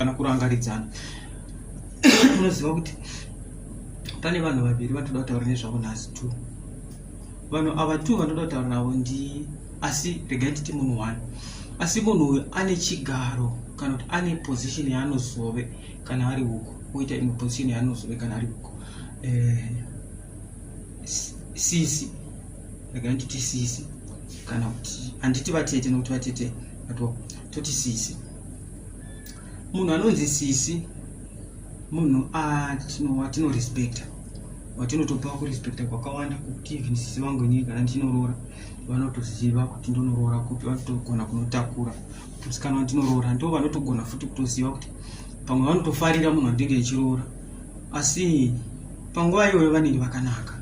kana kurangaridzana unoziva kuti pane vanhu vaviri vatoda kutaura nezvavo nhasi t vanhu ava t vanoda kutaura navo ndi asi regai titi munhu one asi munhu uyu ane chigaro kana kuti ane position yaanozove kana ari uko oita imwe position yaanozove kana ari uko eh, sisi regai titi sisi kana kuti handiti vatete nokuti vatete vatwa toti sisi munhu anonzi sisi munhu atinorespecta vatinotopa kurespecta kwakawanda kuti even sisi vangu inini kana ndinoroora vanotoziva kuti ndonoroora kupi vanotogona kunotakura musikana wandinoroora ndo vanotogona futi kutoziva kuti pamwe vanotofarira munhu wandinge ichiroora asi panguva iyoyo vanenge vakanaka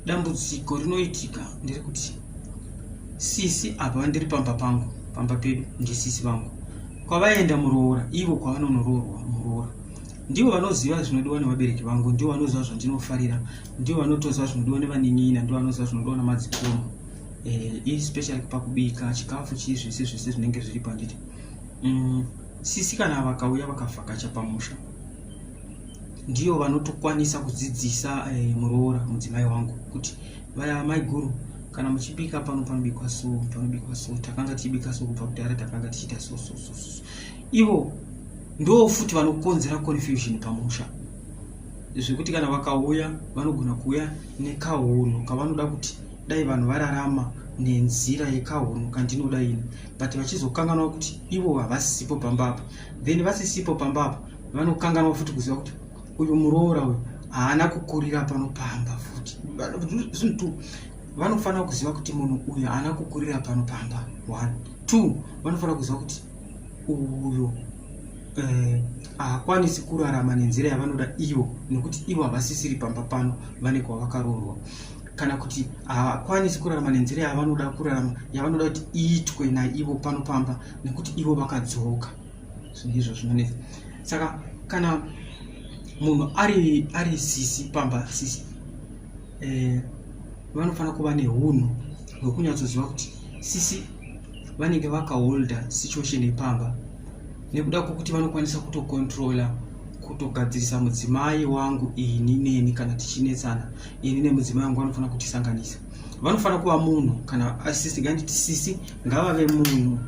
dambudziko rinoitika ndiri kuti sisi apa vandiri pamba pangu pamba pedu ndisisi vangu kwavaenda muroora ivo kwavanonoroorwa muroora ndivo vanoziva zvinodiwa nevabereki vangu ndivo vanoziva zvandinofarira ndivo vanotoziva zvinodiwa nevaninina ndivo vanoziva zvinodiwa namadzikoma eh, especially pakubika chikafu chii zvese zvese zvinenge zviri panditi mm, sisi kana vakauya vakavhakacha pamusha ndiyo vanotokwanisa kudzidzisa eh, muroora mudzimai wangu kuti vaya maiguru kana muchibika pano panobikwa so panobikwa so takanga tichibika so kubva kudhara takanga tichiita so so so so ivo ndo futi vanokonzera confusion pamusha zvekuti kana vakauya vanogona kuuya nekahunhu kavanoda kuti dai vanhu vararama nenzira yekahunhu kandinoda ini but vachizokanganwa kuti ivo havasipo pamba apa then vasisipo pamba apa vanokanganwa futi kuziva kuti uyu muroora uyu haana kukurira pano pamba futi zvinhu two vanofanira kuziva kuti munhu uyu haana kukurira pano pamba one two vanofanira kuziva kuti uyu eh, haakwanisi eh, kurarama nenzira yavanoda ivo nekuti ivo havasisiri pamba pano vane kwavakaroorwa kana kuti havakwanisi kurarama nenzira yavanoda kurarama yavanoda kuti iitwe naivo pano pamba nekuti ivo vakadzoka ndizvo zvinonetsa saka kana munhu ari ari sisi pamba sisi eh, vanofanira kuva neunhu hwekunyatsoziva kuti sisi vanenge vakaholda situation yepamba nekuda kwokuti vanokwanisa kutokontrola kutogadzirisa mudzimai wangu ini neni kana tichinetsana ini nemudzimai wangu vanofanira kutisanganisa vanofanira kuva munhu kana asisi nganditi sisi ngavave munhu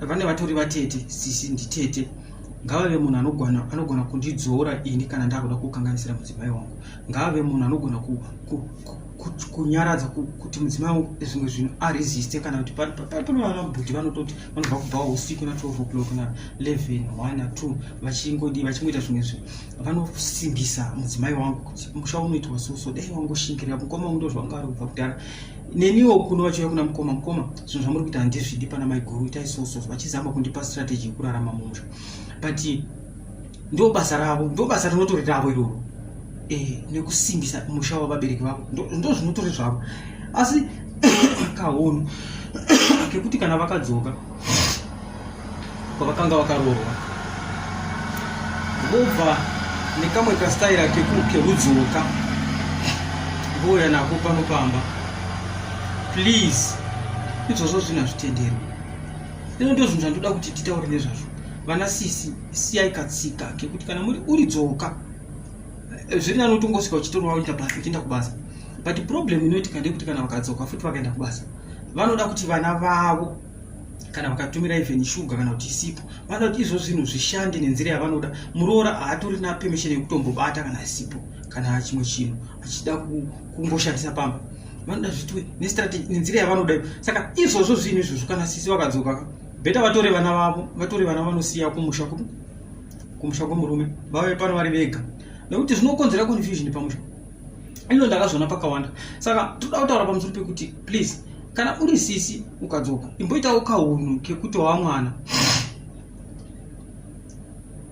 vane vatori vatete sisi nditete ngavave munhu anogona anogona kundidzora ini kana ndakuda kukanganisira mudzimai wangu ngavave munhu anogona kunyaradza kuti mudzimai wangu zvimwe zvinhu aresiste kana kuti panoanabhuti vanototi vanobva kubva usiku na 12 o'clock na 11 one two vachingodii vachingoita zvimwe zvinhu vanosimbisa mudzimai wangu kuti musha unoitwa soso dai wangoshingirira mukoma ungu ndozvanga ari kubva kudhara neniwo kuno vachiuya kuna mukoma mukoma zvinhu zvamuri kuita handizvidi pana maiguru itai soso vachizama kundipa strategy yekurarama mumusha but ndo basa ravo ndo basa rinotori ravo iroro eh, nekusimbisa musha wavabereki vavo ndo zvinotori zvavo asi kahono kekuti kana vakadzoka kwavakanga vakaroorwa vobva nekamwe kastaira kekudzoka vouya nako pano pamba please izvozvo zvinhu hazvitenderwi ino ndo zvinhu zvandoda kuti titaure nezvazvo vana sisi siyai katsika kekuti kana muri uri dzoka eh, zviri nani utongosvika uchitorwa uchienda basa uchienda kubasa but problem inoitika ndeyekuti kana vakadzoka futi vakaenda kubasa vanoda kuti vana vavo kana vakatumira even shuga kana kuti isipo vanoda kuti izvo zvinhu zvishande nenzira yavanoda muroora haatorina permission yekutombobata kana isipo kana chimwe chinhu achida kungoshandisa pamba vanoda zvitwe nestrategy nenzira yavanoda iyo saka izvozvo zvinhu izvozvo kana sisi vakadzoka beta vatore vana vavo vatore vana vanosiya kumusha kumusha kwemurume vave pano vari vega nekuti zvinokonzera confusion pamusha ino ndakazviona pakawanda saka toda kutaura pamusoro pekuti please kana uri sisi ukadzoka imboitawo kahunhu kekuti wa mwana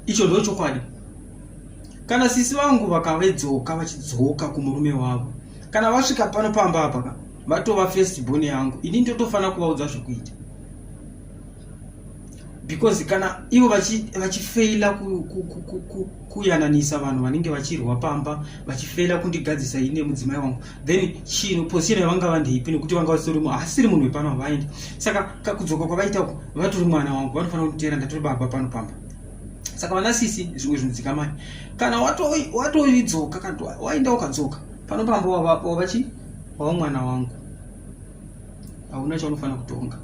icho ndo chokwadi kana sisi vangu vakavedzoka vachidzoka kumurume wavo kana vasvika pano pamba apaka vatova first born yangu ini ndotofanira kuvaudza zvekuita because kana ivo vachifeila kuyananisa vanhu vanenge vachirwa pamba vachifeila kundigadzisa ine mudzimai wangu then chino position yavanga vandeipi nekuti vanga vasitori munhu asiri munhu wepano havaendi saka kakudzoka kwavaita uku vatori mwana wangu vanofanira kunditeera ndatori baba pano pamba saka vana sisi zvimwe zvinodzikamai kana watoidzoka kana waenda ukadzoka pano pamba wavachi wava mwana wangu hauna chaunofanira kutonga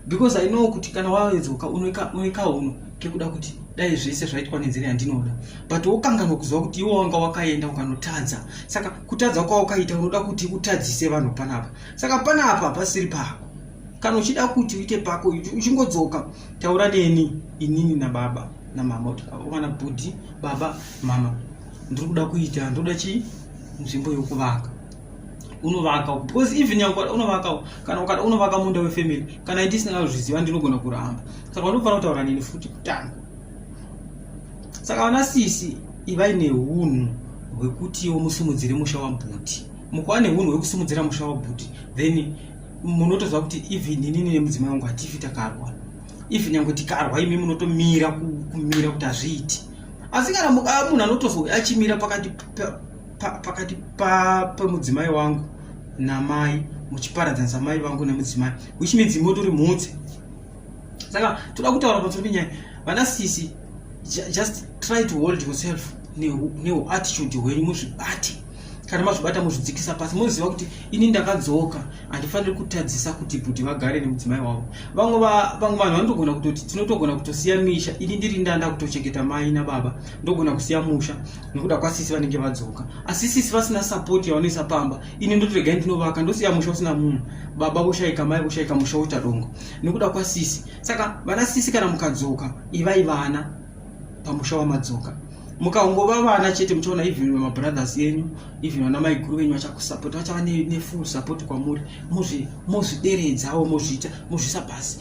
because i know kuti kana wawedzoka unoika uno kekuda kuti dai zvese zvaitwa nenzira yandinoda but wokanganwa kuziva kuti iwo wanga wakaenda ukanotadza saka kutadza kwawakaita unoda kuti utadzise vanhu panapa saka panapa pasiri pako kana uchida kuti uite pako uchingodzoka taura neni inini nababa namama kuti vana bhudhi baba mama ndiri kuda kuita ndoda chii nzvimbo yokuvaka unovaka uko because even yangu unovaka uko kana ukada unovaka munda wefamily kana ndi sina zviziva ndinogona kuramba saka unofanira kutaura nini futi kutanga saka vana sisi ivai nehunhu hwekutiwo musimudzire musha wabhuti mukuva nehunhu hwekusimudzira musha wabhuti then munotoziva kuti even inini nemudzimai wangu hatifi takarwa if nyange tikarwa imi munotomira kumira kuti hazviiti asi kana munhu anotozouya achimira pakati pa, pakati pa, pemudzimai wangu namai muchiparadzanisa mai vangu nemudzimai which means motori mhutse saka toda kutaura pamusoro penyaya vana sisi just try to hold yourself neuattitude hwenyu muzvibati kana mazvibata muzvidzikisa pasi moziva kuti ini ndakadzoka handifaniri kutadzisa kuti bhuti vagare nemudzimai wavo vamwe vanhu vanotogona kutoti tinotogona kutosiya misha ini ndiri ndanda kutochengeta mai nababa ndogona kusiya musha nekuda kwasisi vanenge vadzoka asi sisi vasina sapoti yavanoisa pamba ini ndoti regai ndinovaka ndosiya musha usina munhu baba voshaika mai voshaika musha woita dongo nekuda kwasisi saka vana sisi kana mukadzoka ivai vana pamusha wamadzoka mukangova vana chete muchaona even vemabrothers enyu even vana maiguru venyu vachakusapota vachava nefull support kwamuri mozvideredzawo mozviita mozvisa pasi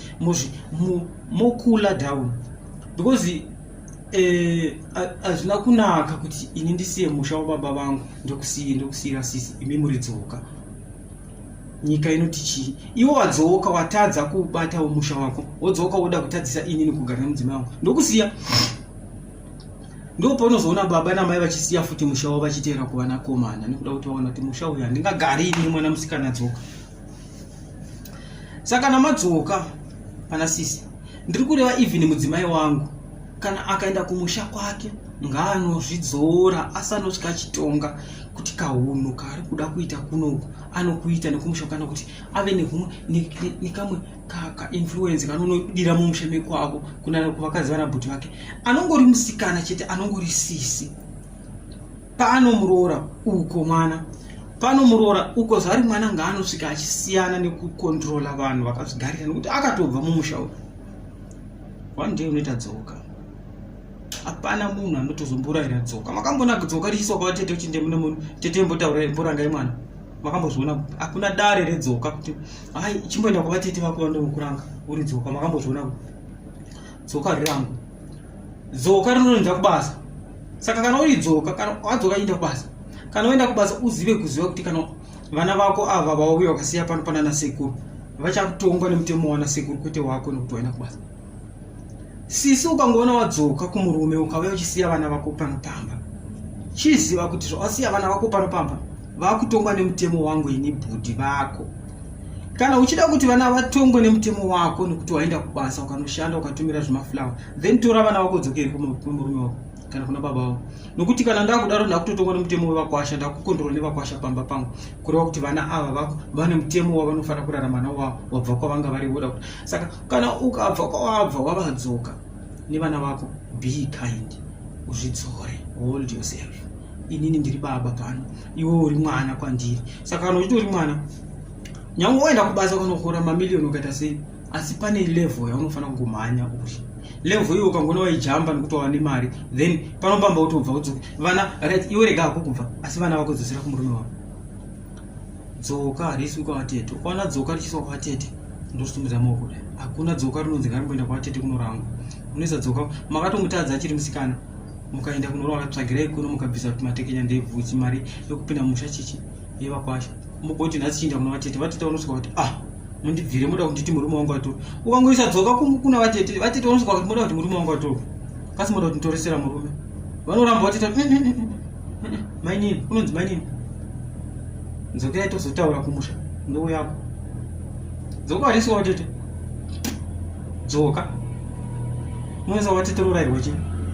mokula down because Eh, hazvina e, kunaka kuti ini ndisiye musha wababa vangu ndokusiye ndokusiyira sisi imi muridzoka nyika inoti chii iwo wadzoka watadza kubatawo musha wako wodzoka woda kutadzisa ini nekugara nemudzima wangu ndokusiya ndopaunozoona baba namai vachisiya futi musha wavo vachiteera kuvanakomana nekuda kuti vaona kuti musha uyu handingagari ini mwana musikana dzoka saka kana madzoka pana sisi ndiri kureva even mudzimai wangu kana akaenda kumusha kwake ngaanozvidzora asanotya chitonga kuti kahunhu kaari kuda kuita kunoku anokuita nekumusha kana kuti ave nehumwe nekamwe kainfluence kanonodira mumusha mekwavo kunana kuvakadzi vanabhuti vake anongori musikana chete anongori sisi Pano muroora uko mwana pano muroora uko zvari mwana ngaanosvika achisiyana nekukontrola vanhu vakazvigarira nekuti akatobva mumusha uyu one day unoita dzoka hapana munhu anotozomboraira dzoka makambona dzoka richiswa kwavatete uchinde mune munhu tete mbotaura mborangai mwana makambozviona kuti hakuna dare redzoka kuti hai chimboenda kwavatete vako vanokuranga uri dzoka makambozviona kuti dzoka rirangu dzoka rinoenda kubasa saka kana uri dzoka kana wadzoka enda kubasa kana uenda kubasa uzive kuziva kuti kana vana vako ava vauya vakasiya pano panana sekuru vachakutongwa nemutemo wana sekuru kwete wako nekuti waenda kubasa sisi ukangoona wadzoka kumurume ukauya uchisiya vana vako panopamba chiziva kuti zvawasiya vana vako panopamba vakutongwa nemutemo wangu ini bhudhi vako kana uchida kuti vana vatongwe nemutemo wako nekuti waenda kubasa ukanoshanda ukatumira zvemaflower then tora vana vako dzokeri kumurume wako kana kuna baba vavo nokuti kana ndakudaro ndakutotongwa nemutemo wevakwasha ndakukondorwa nevakwasha pamba pangu kureva kuti vana ava vako vane mutemo wavanofanira kurarama navo wavo wabva kwavanga vari voda kuti saka kana ukabva kwawabva wavadzoka nevana vako be kind uzvidzore hold yourself inini ndiri baba pano iwe uri mwana kwandiri saka kana uchitori mwana nyange waenda kubasa unohora mamiliyoni ukaita sei asi pane level yaunofanira kungomhanya uri level iyo ukangona waijamba nekuti wava nemari then panopamba utobva udzoka vana right iwe rega hako kubva asi vana vako dzosera kumurume wavo dzoka harisi kwavatete ukaona dzoka richiswa kwavatete ndositumidza maoko kudai hakuna dzoka rinonzi ngarimboenda kwavatete kunorangwa unoisa dzoka makatomutadza achiri musikana mukaenda kunoroora tsvagirai kuno mukabvisa kuti matekenya ndebvuchi mari yokupinda musha chichi yevakwasha mugoti nhasi chinda kuna vatete vatete vanosvika kuti ah mundibvire moda kunditi murume wangu atori ukangoisa dzoka kuna vatete vatete vanosvika kuti moda kuti murume wangu atori kasi moda kuti ntoresera murume vanoramba vatete mm, mm, mm, mainini unonzi mainini dzokerai tozotaura kumusha ndoo yako dzoka varisiwa vatete dzoka unoisa vatete rorairwa chii